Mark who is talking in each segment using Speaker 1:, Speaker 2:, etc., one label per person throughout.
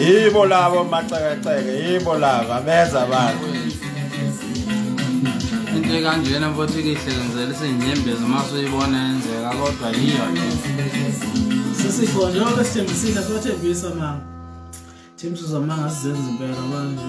Speaker 1: yibo labo macekeceke yibo laba beza abantu
Speaker 2: into ekanjena mfothu ikihlekenzela isinyembezi uma suyibona yenzeka kodwa yiyo sisifo
Speaker 3: njengoba sithembisile sibathembisa mama thembisa uzamanga sizenza impela manje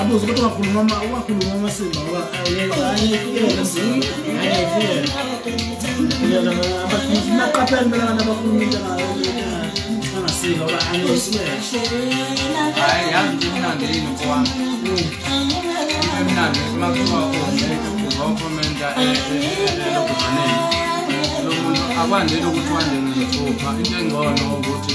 Speaker 3: abuze ukuthi wakhuluma uma wakhuluma uma simba ngoba naqaphela impela abantu abakhuluma into angasile ngoba
Speaker 2: hayi yazi nje imnandi yini mfowami imnandi uma kuthiwa uzokhomenta elokuzaneni lo muntu akwandeli ukuthi wandele nethupha into engcono ukuthi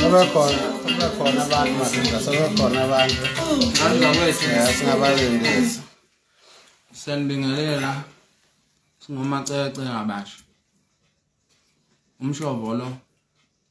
Speaker 1: Sebekhona, sebekhona abantu madoda, sebekhona abantu. Andla kwethu.
Speaker 2: Ya
Speaker 1: singabalindisi. Siyanibingelela.
Speaker 2: Singomacece ngabasha. Umshovo lo.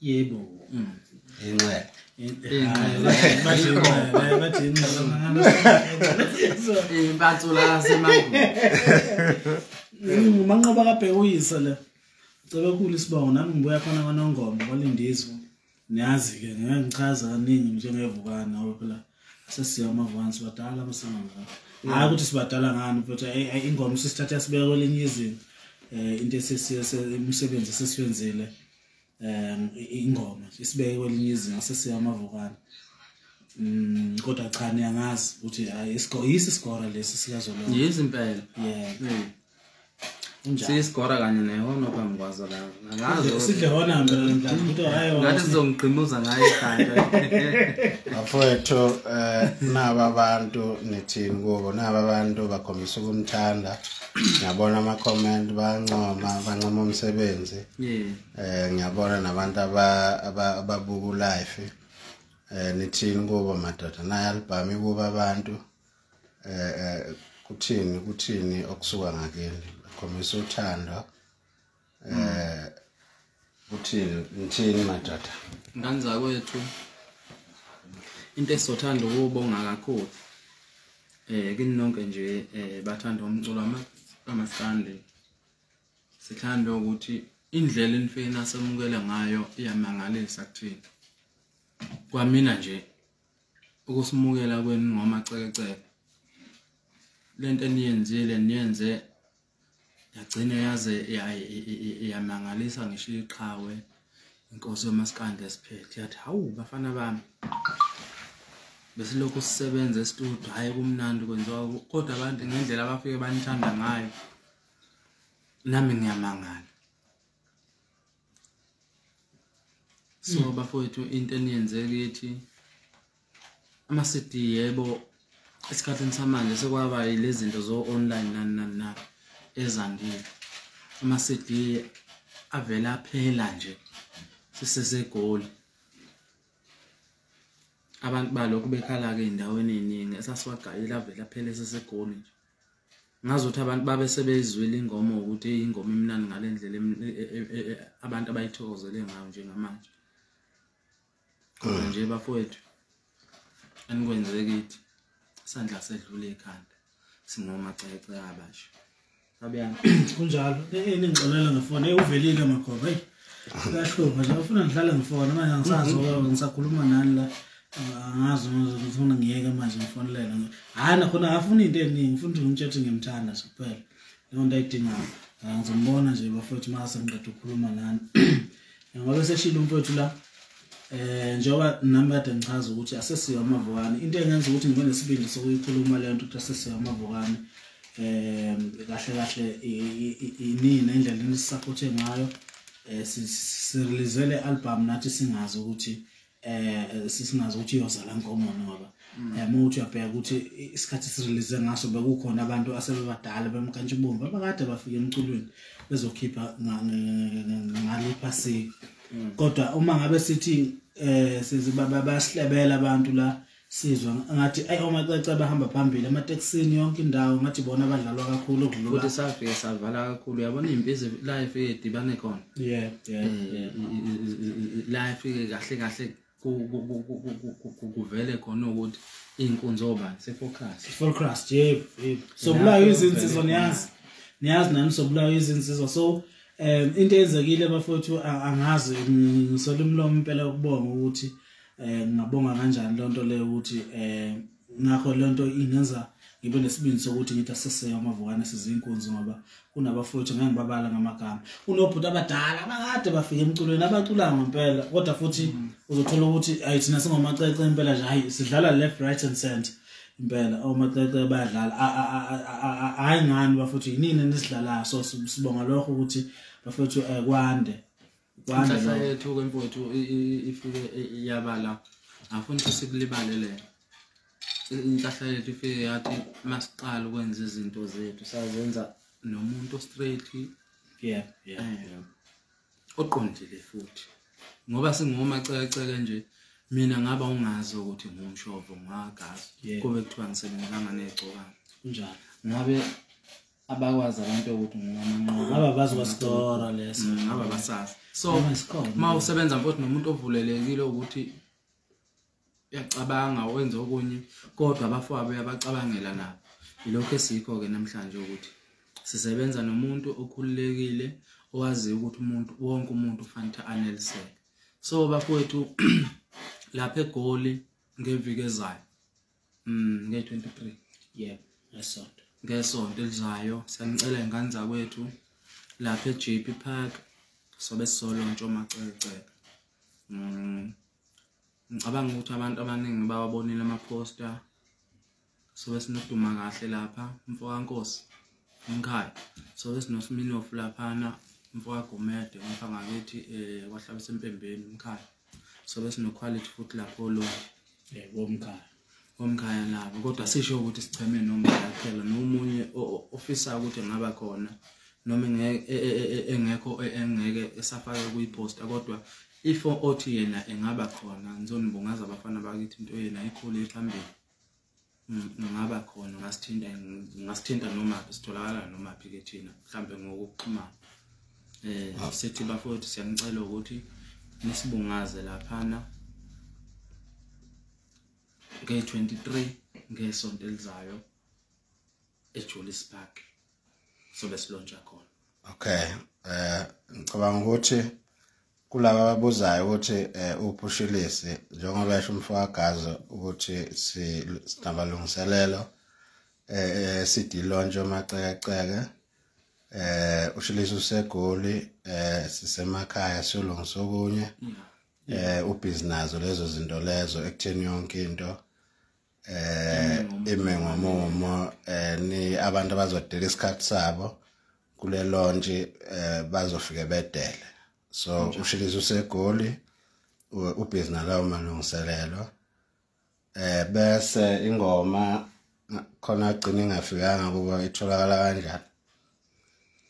Speaker 2: yebo
Speaker 1: mm.
Speaker 2: inxeba
Speaker 3: manqoba kabheke uyise le cebe khulu isibongo nami ngibuya khona kwanongoma kwalindizwe niyazi-ke ngeke ngichaza kaningi njengevukana obe phela sesiya amavukana sibadala masanga ngakho hhayi ukuthi sibadala ngani but ingoma sisithatha sibeka kwelinye izinga um into esesiye imisebenzi esesiwenzile um ingoma isibeke kwelinye izinga sesiya amavokana um kodwa cha niyangazi ukuthi yisi isigora lesi sikazolonga yisi impela
Speaker 2: yeah hmm. siyisigora kanye nehona phambi kwazo lasidle hona
Speaker 3: mnangathi sizongigqimuza
Speaker 2: ngayo ikhanda
Speaker 1: bafowethu um eh, naba abantu nithini kubo naba abantu bakhombisa ukumthanda ngiyabona ama-comment bayancoma bancoma umsebenzi yeah eh ngiyabona nabantu aba ababuku life eh nithini kubo madoda naye album kuba abantu eh, eh kuthini kuthini okusuka ngakini khombisa uthando eh kuthini ngithini madoda ngani zakwethu
Speaker 2: into esizothanda ukubonga kakhulu eh kini nonke nje eh bathanda umculo ama amaskande sithanda ukuthi indlela imfina asemukele ngayo iyamangalisa kuthina kwamina nje ukusimukela kwenu ngomacekeceke lento eniyenzile niyenze yagcina yaze yamangalisa ngisho iqhawe inkosi yomasikande esiphethe yathi hawu bafana bami besilokhu sisebenza estudio hhayi kumnandi kwenziwa kodwa abantu ngendlela abafike banithanda ngayo nami ngiyamangala so hmm. bafowethu into eniyenze kithi ama-cd yebo esikhathini samanje sekwaba yile zinto zo-online nani nani na ezandile ama-cd avele aphela nje sisesegoli abantu balokhu bekhala-ke ey'ndaweni ey'ningi esasiwagayile avele aphele sesegoli nje ngazi ukuthi abantu babe sebeyizwile ingoma ukuthi ingoma imnandi ngale ndlela e, e, e, abantu abayithokozele ngayo njengamanje khona hmm. nje bafowethu anikwenze kithi isandla sedlule ekhanda singomacece abasha abuyani kunjalo
Speaker 3: eningixolela ngefoni ewuvelile magoba eyi Kahlungu nje ufuna ngihlale ngifona manje angisazi ngoba mhm. ngisakhuluma nani la angazi ngifuna ngiyeke manje ngifonelele hayi nakhona akafuni into eningi ngifuna ukuthi ngimtshela ukuthi ngimthanda nje kuphela leyo nto ayidingayo ngizombona nje bafowethu uma sengiqeda ukukhuluma nani ngoba seshilo umfowethu la eh njengoba nami kade ngichaza ukuthi asesiyo amavukane into engenza ukuthi ngibe nesibindi sokuyikhuluma le nto ukuthi asesiyo amavukane eh kahle kahle inini nendlela enisisapothe ngayo eh sirelease le album nathi singazi ukuthi eh sisingazi ukuthi iyoza la nkomo ngoba Mm. yabo ukuthi uyabheka ukuthi isikhathi sirelease ngaso bekukhona abantu asebebadala bemkantshubomvu abakade bafike emculweni bezokhipha ngale phasika mm. kodwa uma ngabe sithi um bayasilebela abantu la sizwa ngathi ayi omacece abahamba phambili ematekisini yonke indawo ngathi bona abadlalwa kakhulu ukudlulakuthi safike savala
Speaker 2: kakhulu uyabona iy'mpizi la ifike idibane khona eh, la ifike kahle kahle kuvele khona ukuthi iy'nkunzi obani sefocrust sefocrust
Speaker 3: yebo yebo sobulayo izinsizwa niyazi niyazi nami sobulayo izinsizwa so um into eyenzekile bafowethu angazi ngisola umlomo impela ukubonga ukuthi um ngingabonga kanjani loo nto leyo ukuthi um ngakho le nto ingenza ngibe nesibindi sokuthi ngithi aseseke amavukane sizinkunzi ngoba kunabafowethu ngeke ngibabala ngamagama kunobhuti abadala abakade bafike emculweni abacula ngempela kodwa futhi uzothola ukuthi ayi thina singomacece impela nje hayi sidlala left right and center impela omacece bayadlala hayi ngani bafowethu yinini nisidlalayo so sibonga lokho ukuthi bafowethu eh, kwande inhlahla
Speaker 2: yethu kwemfowethu ifike yabala afuni ukuthi sikulibalele inhlahla yethu ifike yathi masiqala ukwenza izinto zethu sazenza nomuntu straight yeah yeah eh, oqondile futhi ngoba singomacekeceke nje mina ngaba ungazi ukuthi ngumshovo ngwagazi kube kuthiwa ngisebenzanga negcokana njalo ngabe abakwazi abantu ukuthi
Speaker 3: ngingamanqoba aba bazi kwasikora
Speaker 2: leso mm, aba basazi so uma usebenza mfowethu nomuntu ovulelekile ukuthi uyacabanga wenze okunye kodwa abafowabo uyabacabangela nabo yilokho esikho-ke namhlanje ukuthi sisebenza nomuntu okhululekile owaziyo ukuthi umuntu wonke umuntu ufanele aneliseke so bafowethu lapha egoli ngeviki ezayo mm nge 23 yeah
Speaker 3: ngesonto
Speaker 2: ngesonto elizayo siyanicela ingane zakwethu lapha eJP Park sobe solo ntshomaceleceka mm ngicabanga ukuthi abantu abaningi bawabonile ama poster sobe sinoduma kahle lapha mfokankosi umkhaya sobe sinosiminofu laphana mfowagumede umfangakithi eh kwahlabisa empembeni umkhaya sobe sinoquality futhi lapho lo eh, womkhaya womkhaya nabo kodwa sisho ukuthi sicheme noma kuphela nomunye ofisa ukuthi ngaba khona noma e, e, e, engekho engeke esafake kuyiposta kodwa if othi yena engaba khona ngizonibungaza abafana bakithi into yena ikhulu ephambili ngingaba khona ngasithinta ngasithinta noma sitholakala noma phi ke thina mhlambe ngokuxhumana eh ah. sithi bafowethu siyanicela ukuthi nisibungaze laphana nge-23 ngesonto elizayo eJulius Park sobe silontsha
Speaker 1: khona okay eh ngicabanga ukuthi kulabo ababuzayo ukuthi eh, uphushilisi njengoba esho umfowagazo ukuthi sinabalungiselelo eh, eh sidilontshe amacekeceke eh ushilisi usegoli eh sisemakhaya siyolungisa okunye eh ubhizi nazo lezo zinto lezo ekutheni yonke into eh ime ngomumo eh ni abantu abazodela isikhathi sabo kule lonje eh bazofike bedele so ushilizo usegoli ubhizi nalawo malungiselelo eh bese ingoma khona agcina ingafikanga kuba itholakala kanjani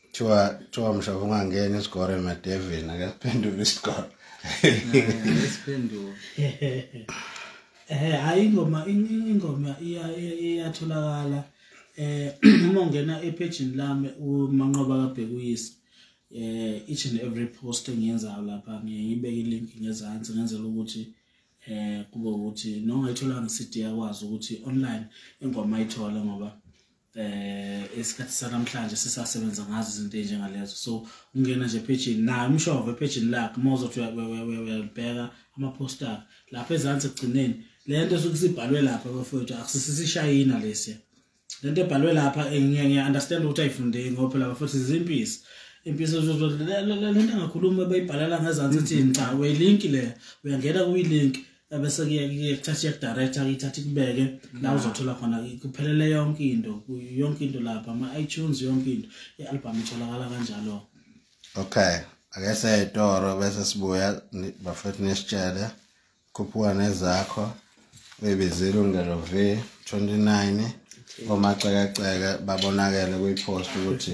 Speaker 1: kuthiwa kuthiwa mshaba ungangena isigore emadevini akasiphendula isigore
Speaker 2: Eh
Speaker 3: hayi ingoma ingoma iyatholakala eh uma ungena epagini lami umanqoba kabhekuyise eh each and every post engiyenzayo lapha ngiyibeke ilink ngezansi ngenzela ukuthi eh kube ukuthi nongayithola nge-CD yakwazi ukuthi online ingoma ayithola ngoba eh isikhathi sanamhlanje sisasebenza ngazo izinto enjengalezo so ungena nje pejini naye umshova epejini lakhe uma uzothi uyabheka amaposta akhe lapha ezansi ekugcineni le nto esuke sibhalwe lapha bafowethu akusisishayina lesiya le nto ebhalwe lapha ngiya-understand ukuthi ayifundeki ngoba phela bafowethu zizimpisi impisi le nto engakhulumi bayibhalela ngezansi ithini cha uyilinki leya uyangena kuyilinki ebese kuyekuthatha iyekudirector kuyithatha ikubeke la mm. uzothola khona kuphelele yonke into yonke into lapha ama-itunes yonke into i-albhamu itholakala kanjalo okay
Speaker 1: ake seyitoro bese sibuya bafethu nesitshele khuphuka nezakho uyibizile ungelo v 29 omacekeceke babonakele kwipost ukuthi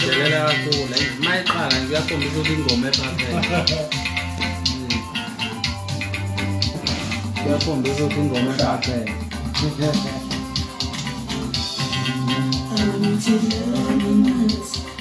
Speaker 2: Delela kakhulu hayi uma iqala nje uyakhombisa ukuthi ingoma ephakele uyakhombisa ukuthi ingoma ephakele Thank you.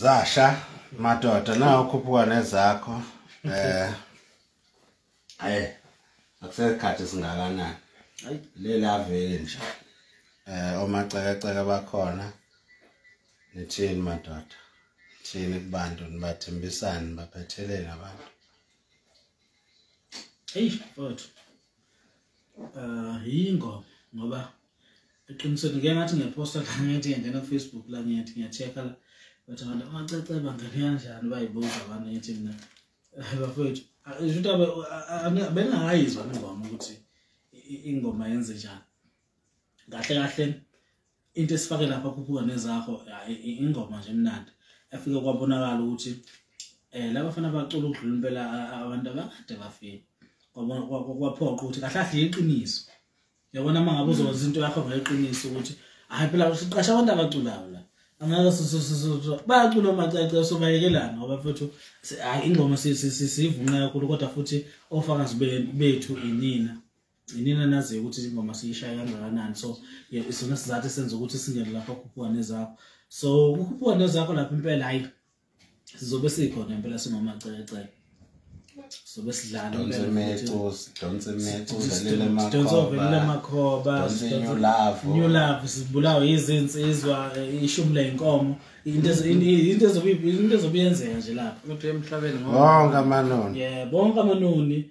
Speaker 1: zasha madoda nawo khuphuka nezakho eh ayi akusekhathi singakanani ayi lelaveli nje eh omacekeceke bakhona nithini madoda thini kubantu nibathembisani nibaphetheleni abantu
Speaker 3: eyi mfowethu um yingo ngoba eqinisweni ngike ngathi ngiyaphosta la ngithi ngiyangena kufacebook la ngiyathi ngiya-check-a la bathi abantu amacece bangene kanjani bayibuza abantu ngithi mina bafowethu ngisho ukuthi abe- a- a- a- bengakayizwa ingoma ukuthi i- i- ingoma yenze njani kahle kahle into esifake lapha khuphuka nezakho ya, i- i- ingoma nje emnandi efike kwabonakala ukuthi um laba fana bacula ukudlula impela a- a- abantu abakade bafile Kwabona- kwa- kwa- kwaphoqa ukuthi kahle kahle yiqiniso yabona uma ngabe uzokwenza into yakho ngeqiniso ukuthi hayi phela uqasha abantu abaculayo la angeke bayacula omacace sobayekelana ngoba futhi hayi ingoma siyivunqa kakhulu kodwa futhi ofakazi bethu inina inina naziyo ukuthi ingoma siyishaya kangakanani so isona sizathu esenza ukuthi singene lapho khuphuka nezakho so kukhuphuka nezakho lapho impela hayi sizobe sikhona impela singomacece sobe sidlala amakhobaulove sibulawe yizinsizwa eh, ishumi leyinkomo into ezobe yenzeka nje lapha
Speaker 2: bonke amanoni
Speaker 1: bonke amanoni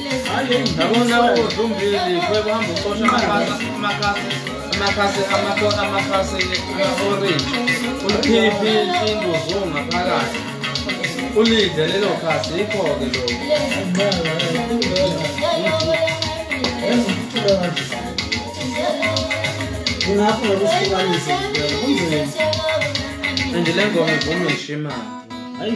Speaker 2: Ndabona uzumbili kwekuhamba ucosha amakhasi amakhasi amakhona amakhasi orange ulikhiphi induzu ngaphakathi ulidle lelo khasi yikho-ke lokungakho
Speaker 3: ngokuhlukanisa kunzima
Speaker 2: and le ngoma ivuma ishimana hayi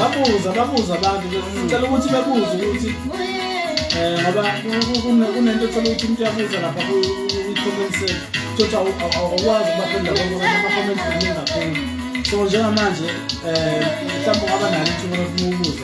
Speaker 2: wabuza
Speaker 3: babuza abantu ngicela ukuthi babuze ukuthi um ngoba kunento othola ukuthi umuntu uyabuza lapha kwi-comment se thothi awukwazi ukuba khona labo ama-comment kuningi kakhulu so njengamanje um mhlawumbe ungaba nalo ithuba lokubuza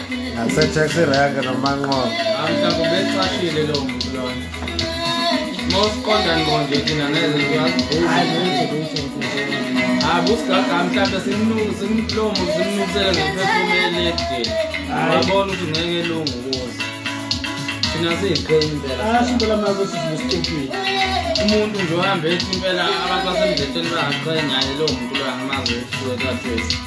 Speaker 1: Ngasetaxi rank nomanqobo. Mhlawumbe
Speaker 2: becashile lo muntu lona. Mosiqonda ngqo nje thina ngeze siyazibuza. Hayi busigaga mhlawumbe simnuku simlomo simnukisela ngephefumulo elide. Uyabona ukuthi ngeke elungu kuze. Thina siyiqhenya impela. Asho impela manje
Speaker 3: sisibusiqhenya. Umuntu
Speaker 2: nje uhamba ethi impela abantu basemdletsheni bangaqhenya lo muntu lo angamazi ukuthi uzothi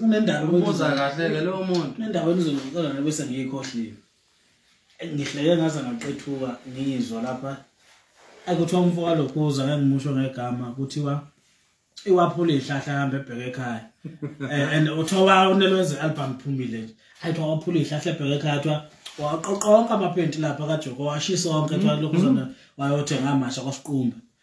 Speaker 3: kunendaba ubuza kahle ke
Speaker 2: lowo muntu kunendaba enizongixola
Speaker 3: nebese ngiyikhohliwe ngihleke ngaze ngaqethuka ngiyizwa lapha akuthiwa umfo walokhuza ngengimusho ngegama kuthiwa iwaphula ihlahla hamba ebheke ekhaya eh, and uthiwa unelwenze album phumile nje ayithiwa waphula ihlahla ebheke ekhaya kuthiwa waqoqa onke amaphenti lapha kajoko washisa onke kuthiwa lokhu zona wayothenga amasha kwasiqumba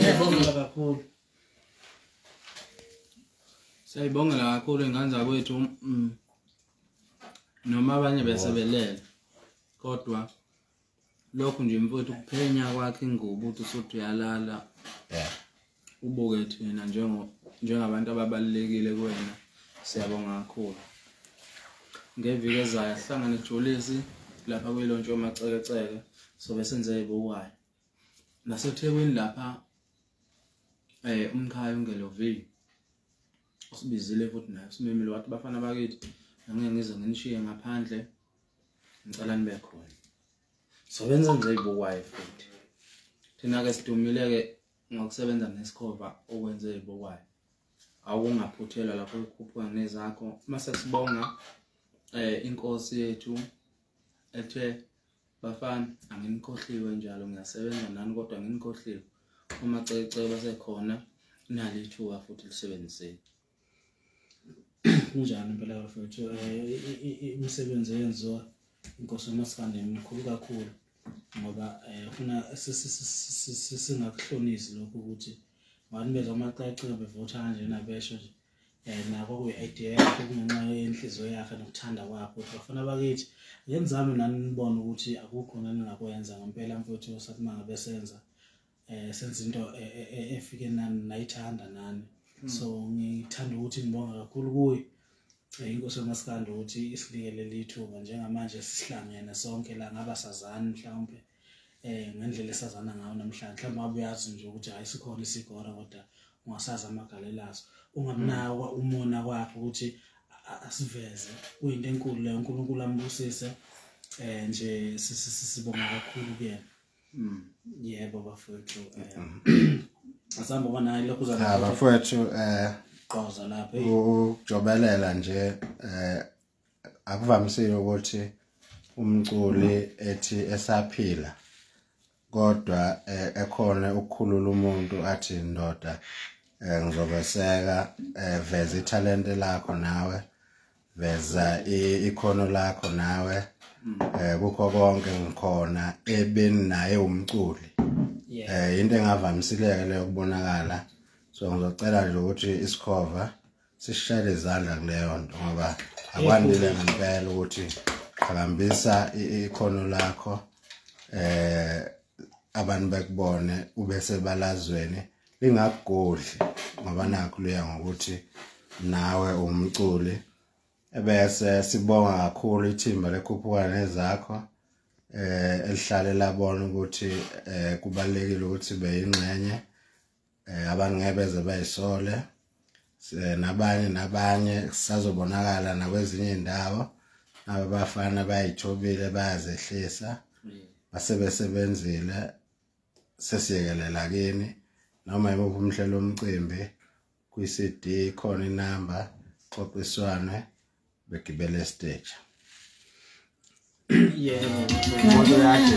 Speaker 3: Siyabongela kakhulu.
Speaker 2: Siyabongela kakhulu ingane zakwethu mm. noma abanye besebelela kodwa lokhu nje mfowethu kuphenya kwakhe ingubo ukuthi usuthi uyalala ubuke thina njengo njengabantu ababalulekile kuwena siyabonga kakhulu ngeviki ezayo ahlangane jolisi lapha kuyilontshe omacekeceke sobe senze ibukwayo nasethekwini lapha eh umkhaya ungelovile usibizile futhi naye usimemile wathi bafana bakithi ngeke ngize nginishiye ngaphandle ngicela nibe khona sobenze nje ibukwayo futhi thina-ke sidumile-ke ngokusebenza ngesikhova okwenze ibokwayo awungaphuthelwa lapho ukhuphuka nezakho mase sibonga eh inkosi yethu ethe bafana anginikhohliwe njalo ngiyasebenza nani kodwa nginikhohliwe uma cece basekhona nalithuka futhi lisebenziseni
Speaker 3: kunjani impela bafethu eh, imisebenzi eyenziwa inkosi umaskande mikhulu kakhulu ngoba eh, funa singakuhlonisi lokhu ukuthi abantu bezwa amacacile bevotha kanjena besho nje um nako kuyi-idea yakhe kungenxa yenhliziyo yakhe nokuthanda kwakho ukuthi bafuna bakithi ngenzami nani nibone ukuthi akukho naningakwenza ngempela mfowethu sathi uma ngabe senza eh senza into e, e, e, efike nani nayithanda nani hmm. so ngithanda ukuthi ngibonga kakhulu kuye eh, inkosi yomasikandi ukuthi isilikele lithuba njengamanje sihlangene sonke la ngaba sazani mhlawumbe eh ngendlela esazana ngayo namhlanje mhlawumbe abuyazi nje ukuthi hayi sikhona isigora kodwa ungasazi amagalelazo ungamnakwa hmm. umona kwakhe ukuthi asiveze kuyinto enkulu leyo uNkulunkulu ambusise eh nje sibonga kakhulu kuyena Mm, yebo bafowethu um asambe uba naye lokhu uza Ah, bafowethu eh
Speaker 1: qoza
Speaker 3: lapha eyi. ukujobelela
Speaker 1: nje eh akuvamisile ukuthi umculi ethi esaphila kodwa eh, ekhona ukukhulula umuntu athi ndoda eh, ngizobeseka eh, veza ithalente lakho nawe veza ikhono lakho nawe mm. eh kukho konke ngikhona ebeni naye umculi eh into engavamisileke leyo kubonakala so ngizocela nje ukuthi isikhova sishayele izandla kuleyo nto ngoba akwandile ngempela ukuthi qhakambisa ikhono lakho eh abantu bekubone ube sebalazweni lingakugodli ngoba nakho luya ngokuthi nawe umculi ebese sibonga kakhulu ithimba lekhuphukana nezakho eh elihlale labona ukuthi eh kubalekile ukuthi beyingxenye eh abangebeze bayisole nabanye nabanye kusazobonakala nakwezinye indawo abafana bayithobile bayazehlisa basebesebenzile sesiyekelela kini noma yimuphi umhlelo omcimbi kwi-CD khona inamba xoxiswane begibele stage
Speaker 3: yebo umuntu yakhe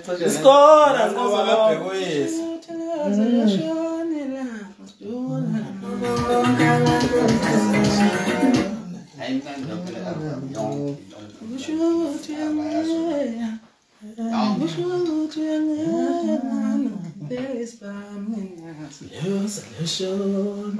Speaker 1: Skora ngozalabhekuyisa.
Speaker 3: Solution.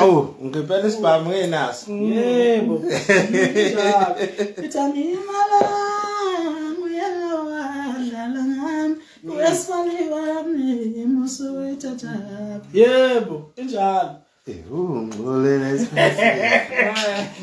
Speaker 3: awu
Speaker 1: ngempela isibhamu ngenaso yebo
Speaker 3: ithanda imala uyalawadlala ngami uyasifani wami muso wethathaphi yebo injalo Ewu,
Speaker 1: ngxolele isikhathi.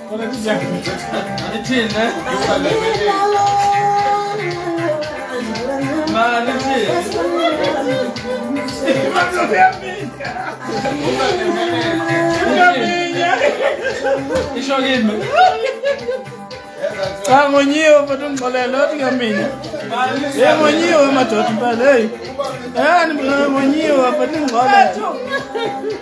Speaker 3: Isho kimi. Cha ngonyiwe mfana ungixolele othi ngamina. Hey ngonyiwe madoda impela hey. Eh ngonyiwe mfana ungixolele.